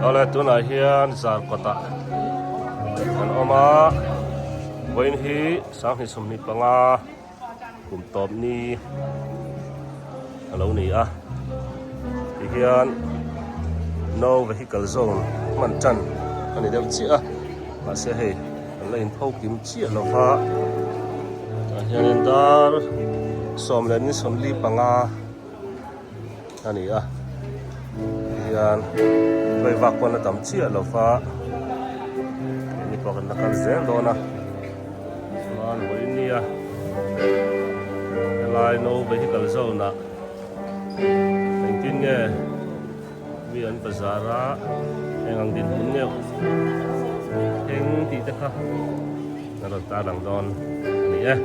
Ole tunah hian zar kawtah kan awm a vawiin hi sanghnih sawmhnih panga kum tawp ni a lo ni a ti hian no vehicle zone hman tan a ni deuh chiah a mahse hei-- An la in pho kim chiah lo va, tah hianin dar sawm leh ni sawm li panga a ni a, hei hian vawi vak pawn a tam chiah lo va, hei ni pawh kan la kal zel dawn a, chuan vawi nia helai no vehicle zone ah engtin nge. Mi an bazar a eng ang dinhmun neuh eng tih te kha ka rawn tarlang dawn a ni e.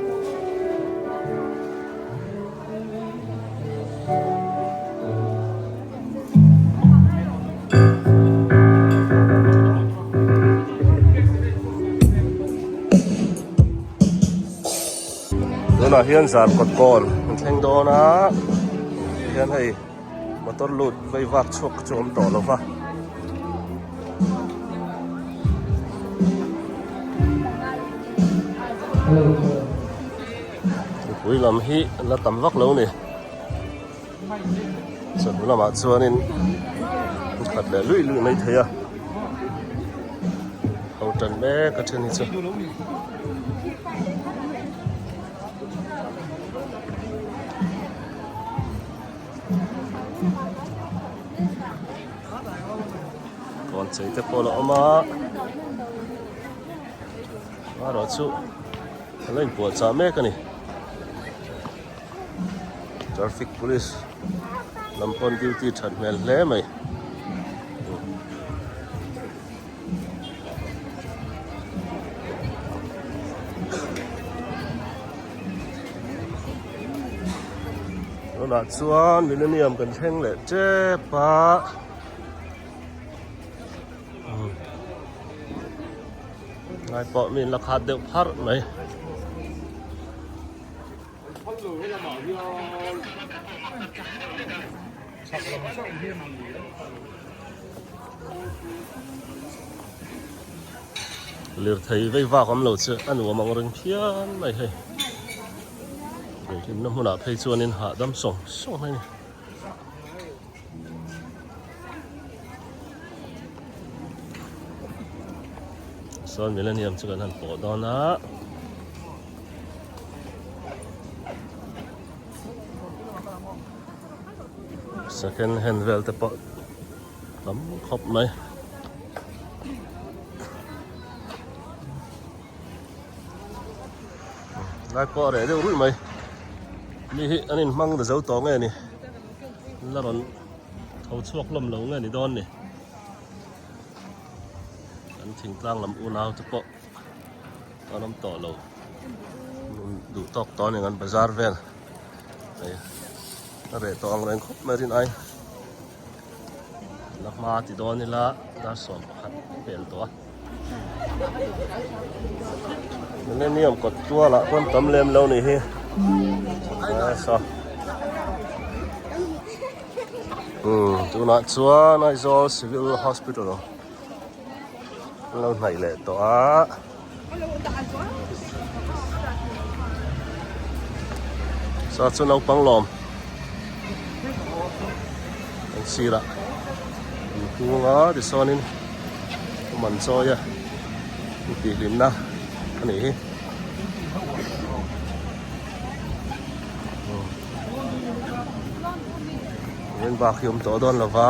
Tunah hian zar kawt kawl an thleng dawn a hian hei. Motor lut vei vak chhuak chu awm tawh lova. Mipui lam hi la tam vak lo ni. Chawlh lamah chuanin in khat leh lui lui mai thei a. Ho tan mek a then hi chu. puan chei te pawh la awm a a rawh chu a la in puah chah mek a ni traffic police lam pawn duty that hmel hle mai. tunah chuan millennium kan thleng leh chep a umm ngai pawh min la khat deuh phar mai. lirthei vei vak awm lo che a nuam ang reng phian mai hei leh hlimna hmunah phei chuanin hahdam sawng sawng mai a ni sawn millennium chu kan han pawh dawn a second hand vel te pawh tam khawp mai lai pawh reh deuh rui mai mi hi an in hmang ta zo tawh nge ni la rawn tho chhuak lawm lo nge ni dawn ni an thingtlang lam unau te pawh an awm tawh lo duh tawk tawh a ni ang an bazar vel ka reh tawh ang reng khawp mai rin ai la hma ti dawn ila darsuam pakhat ka pel tawh a millennium kawt tual ah pawn tam lem lo ni hi so um tunah chuan aizawl civil hospital lo hnaih leh tawh a Sa chu naupang lawm kan sira an hûnga tisawnin awm an chawi a intihhlimna a nih hi vawin bak hi awm tawh dawn lova.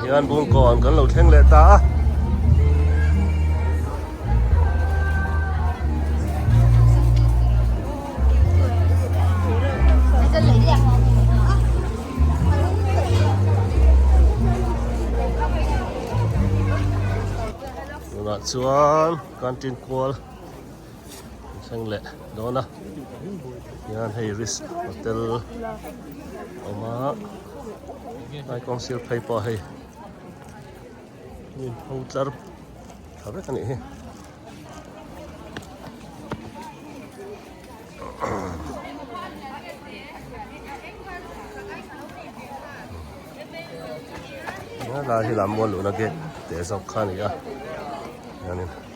Hian bung kaw an kan lo thleng leh ta a. Tunah chuan canteen kual. an thleng leh dawn a tihian hei risk hotel a awm a helai kawng sir phei pawh hei hnim ho tlar tha vek a nih hi helai hi lam mual luhna gate teh zawk kha a ni a.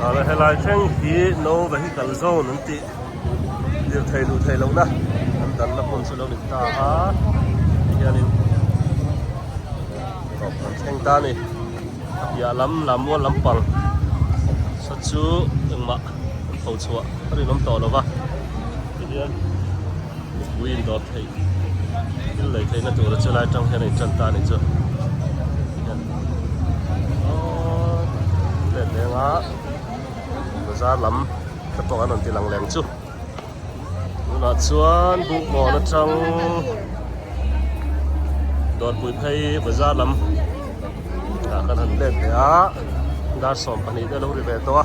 Tah helai thleng hi no vehicle zone an tih lirthei luh theih lohna an dan na hun chu lo dik ta a ti hian in rawh kan thleng ta ni a piah lam Lammual lampang saw chu engmah kan pho chhuah ka rinawm tawh lo va ti hian. Mipui indawr theih thil nei theihna tura chu lai atang hian a inṭan ta a ni chu. Hian aww let leng a bazar lam te pawh an rawn ti lang lem chu. Tunah chuan bukmawhna atang dawrpui phei bazar lam ah kan han let leh a. Dar sawm pahnih te a lo ri ve tawh a.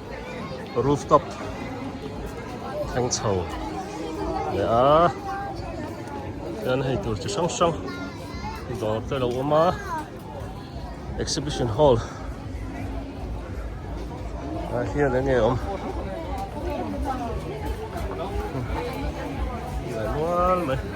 rooftop thleng chho leh a chuan hei tur chi hrang hrang dawr te lo awm a exhibition hall ah hian eng nge awm nual mai.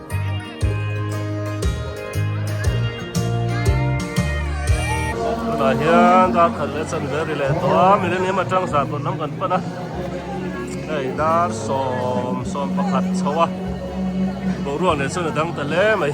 tunah hian darkhan leh chanver ri leh tawha millennium atang zah tawh lam kan pan a hei dar sawm sawm pakhat chhoa boruak leh chuan a dang ta hle mai.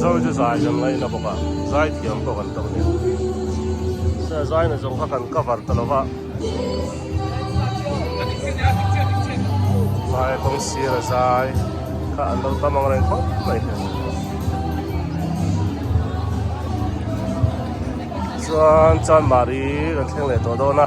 Zau chu zai kan ngaih na bawk a, zai thiam pawh kan tawk nen. Sir zai na zawng kha kan cover ta lova. Zai kawng sira zai kha an lo tam ang reng khawp mai hian. Chuan chuan Mari kan thleng leh tawh dawn a.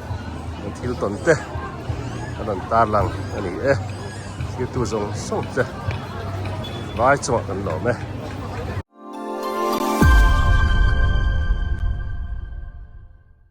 an thil tawn te a rawn tarlang a ni e thiltu zawng zawng te vai chungah kan lawm e.